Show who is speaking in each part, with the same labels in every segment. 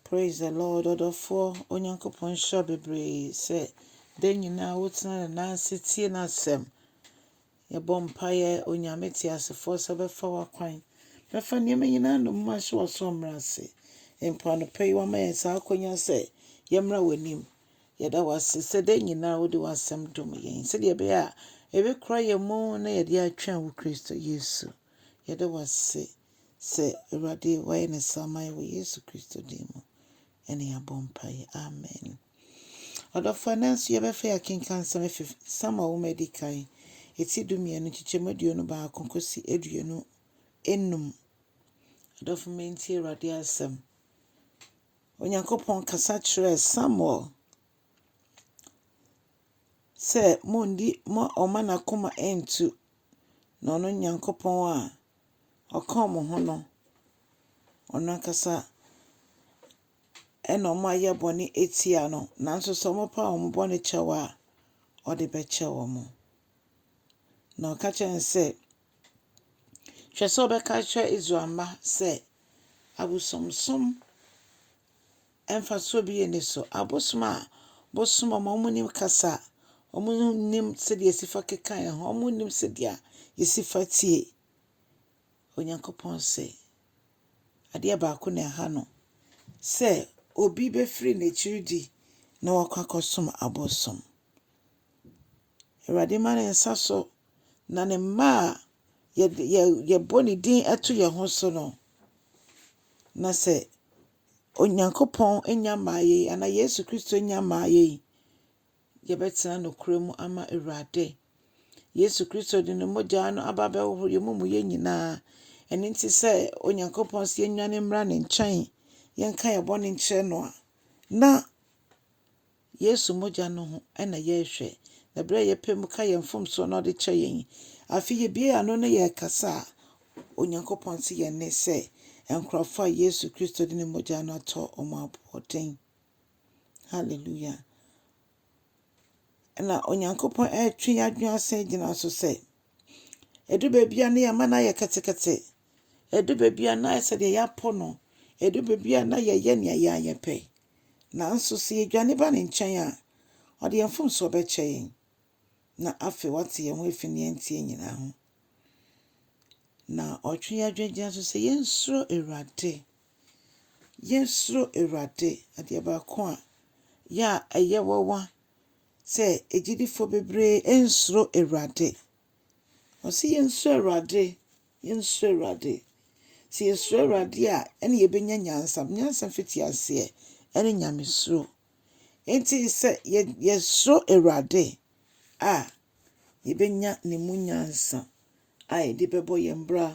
Speaker 1: Praise the Lord ɔdɔfoɔ Onyankopɔn nhyira wo bebree sɛ da nyinaa wotena ne nan ase tie n'asɛm. Yɛbɔ mpaeɛ Onyame teasefoɔ sɛ ɔbɛfa w'akwan bɛfa nneɛma nyinaa nnommum ahyɛ w'aso mmra ase. Mpo anɔpa yi wama yɛn saa akwanya sɛ yɛmmra w'anim. Yɛda wo ase sɛ da nyinaa wode w'asɛm dom yɛn sɛdeɛ ɛbɛyɛ a ɛbɛkura yɛn mu na yɛde atwɛn wo Kristo Yesu. Yɛda wo ase. Sɛ Awurade wayɛ ne saa ama yɛn wɔ Yesu Kristo din mu. Ɛne yɛabɔ mpaeɛ. Amen. Ɔdɔfoɔ ɛnɛ nso yɛbɛfa yɛ akenkan nsɛm afi Samuel nwoma a ɛdi kan ɛti du mmienu nkyekyɛmu aduonu baako kɔsi aduonu enum. Ɔdɔfo ma ntie Awurade asɛm. Onyankopɔn kasa kyerɛɛ Samuel sɛ mondi mo ɔma n'akoma ntu na ɔno Nyankopɔn a Ɔka wɔn ho no, wɔn ankasa na wɔayɛ bɔne atia no, nanso sɛ wɔpa wɔn bɔne kyɛ wɔ a, ɔde bɛkyɛ wɔn. Na ɔka kyerɛ no sɛ, Hwɛ sɛ wobɛka akyerɛ Israel mma sɛ abosonsom mfasoɔ bi nni so. Abosom a bosom wɔn a wɔnnim kasa, wɔnnim sɛdeɛ yɛsi fa keka yɛn ho, wɔnnim sɛdeɛ yɛsi fa tie. Onyankopɔn se, adeɛ baako na ɛha no sɛ obi bɛfiri n'akyiri di na wakɔ akɔsom abosom. Awurade ma ne nsa so na ne mma a yɛde yɛ yɛbɔ ne din to yɛn ho so no, na sɛ Onyankopɔn nya mmaa yei anaa Yesu Kristo nya mmaa yei, yɛbɛtena nokorɛ mu ama Awurade. Yesu Kristo de ne mogya no aba abɛhohoro yɛn amumuyɛ nyinaa. Ɛno nti sɛ Onyankopɔn sɛ yɛnnwane mmra ne nkyɛn, yɛnka yɛn bɔne nkyerɛ no a, na Yesu mogya no ho na yɛrehwɛ, na bere a yɛpae mu ka yɛn mfomso na ɔde kyɛ yɛn yi, afei yebue yɛn ano na yɛkasa a, Onyankopɔn te yɛn nne sɛ nkurɔfo a Yesu Kristo de ne mogya no atɔ wɔn aboɔden. Hallelujah. Na Onyankopɔn retwe yɛn adwene asan agyina so sɛ, Ɛdu baabi a na yɛn mma no ayɛ ketekete. Ɛdu baabi a na ayɛ sɛ deɛ yɛapo no. Ɛdu baabi a na yɛyɛ nea yɛn ara yɛpɛ. Nanso sɛ yɛdwane ba ne nkyɛn a, ɔde yɛn mfomsoɔ bɛkyɛ yɛn, na afei wate yɛn ho afi nea ɛnteɛ nyinaa ho. Na ɔtwe yɛn adwene gyina so sɛ yɛnsuro Awurade. Yɛnsuro Awurade. Adeɛ baako a yɛ a ɛyɛ wawa sɛ agyidifoɔ bebree nsuro Awurade. Ɔse yɛnsuro Awurade, yɛnsuro Awurade. Sɛ yɛsuro Awurade a, ɛne yɛbɛnya nyansa. Nyansa mfitiaseɛ ɛne Nyamesuro. Enti sɛ yɛsuro Awurade a, yɛbɛnya Ne mu nyansa. a yɛde bɛbɔ yɛn bra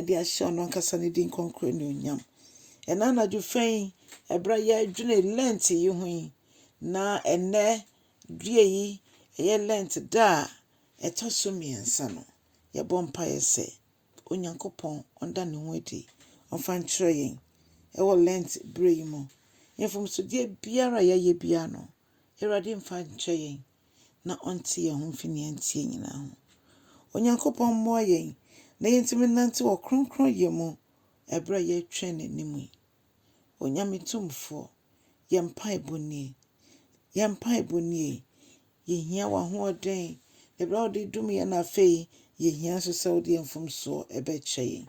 Speaker 1: de ahyɛ ɔno ankasa ne din kronkron anuonyam. Ɛna anadwo fɛ yi, ɛberɛ a yɛredwene Lent yi ho yi, na ɛnɛ due yi, ɛyɛ Lent da a ɛtɔ so mmiɛnsa no, yɛbɔ mpaeɛ sɛ Onyankopɔn ɔnda ne ho adi, ɔmfa nkyerɛ yɛn ɛwɔ Lent berɛ yi mu. Mfomsodeɛ biara a yɛayɛ biara no, Awurade mfa nkyɛ yɛn. na ɔnte yɛn ho mfi nea ɛnteɛ nyinaa ho. Onyankopɔn mmoa yɛn na yentumi nnante wɔ kronkronyɛ mu bere a yɛretwɛn n'anim yi. Onyame Tumfoɔ, yɛn mpaebɔ nie, yɛn mpaebɔ nie. Yɛhia w'ahoɔden, ɛberɛ a wode dum yɛn no afei yɛhia nso sɛ wode yɛn mfomsoɔ bɛkyɛ yɛn.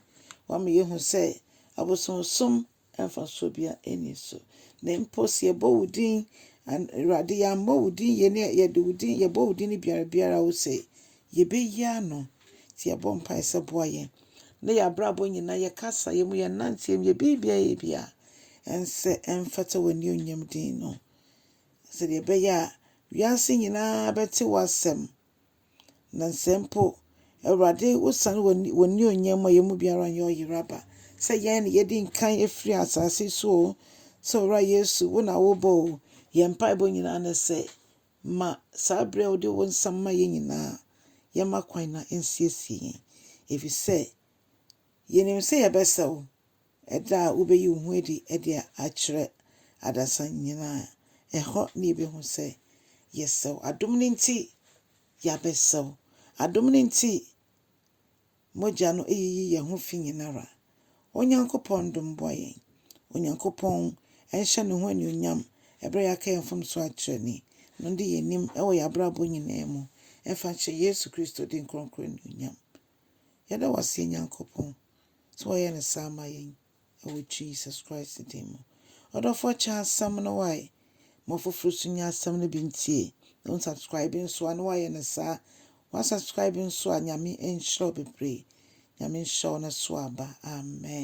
Speaker 1: Woama yɛhu sɛ abosonsom mfasoɔ biara nni so. Na mpo sɛ yɛbɔ wo din, Awurade, yɛammɔ wo din yei ne yɛde wo din, yɛbɔ wo din ne biara biara a, wo sɛ yɛbɛyi ano. Nti yɛbɔ mpaeɛ sɛ boa yɛn ne yɛn abrabɔ nyinaa, yɛn kasaeɛ mu, yɛn nnanteɛ mu, yɛn biribiara yɛ biara, ɛnsɛ ɛmfata w'anionyam din no, sɛdeɛ ɛbɛyɛ a wiase nyinaa bɛte w'asɛm. Na sɛ mpo Awurade wosiane w'anuonyam mu a, yɛn mu biara nyɛ ɔyeraba. Sɛ yɛn na yɛdi nkan afiri asase so o, sɛ Owura Yesu, wo na wobɔ o, yɛn mpaebɔ nyinaa ne sɛ, ma saa berɛ a wode wo nsa ma yɛn nyinaa, yɛmma kwan na ɛnsiesie yɛn. Ɛfiri sɛ, yɛnim sɛ yɛbɛsɛ wo, Da a wubeyi wo ho adi de akyerɛ adasa nyinaa, ɛhɔ na yebehu sɛ yɛsɛ wo. Adom no nti, yɛabɛsɛ wo. Adom no nti, mogya no yiyi yɛn ho fi nyinara. Onyankopɔn dom mmoa yɛn. Onyankopɔn nhyɛ ne ho anuonyam bere a yɛaka yɛn mfomso akyerɛ no yi, na ɔnde yɛn anim wɔ yɛn abrabɔ nyinaa mu mfa nhyɛ Yesu Kristo din kronkron anuonyam. Yɛda wo ase, yɛn Nyankopɔn. sɛ wɔyɛ no saa ma yɛn wɔ Jesus Christ din mu. Ɔdɔfo kyɛ asɛm no wae ma ɔfoforo so nya asɛm no bi ntie na wɔn subscribe nso a na wɔayɛ no saa. Wɔn subscribe nso a Nyame nhyira wo bebree. Nyame nhyira wo na so aba. Amen.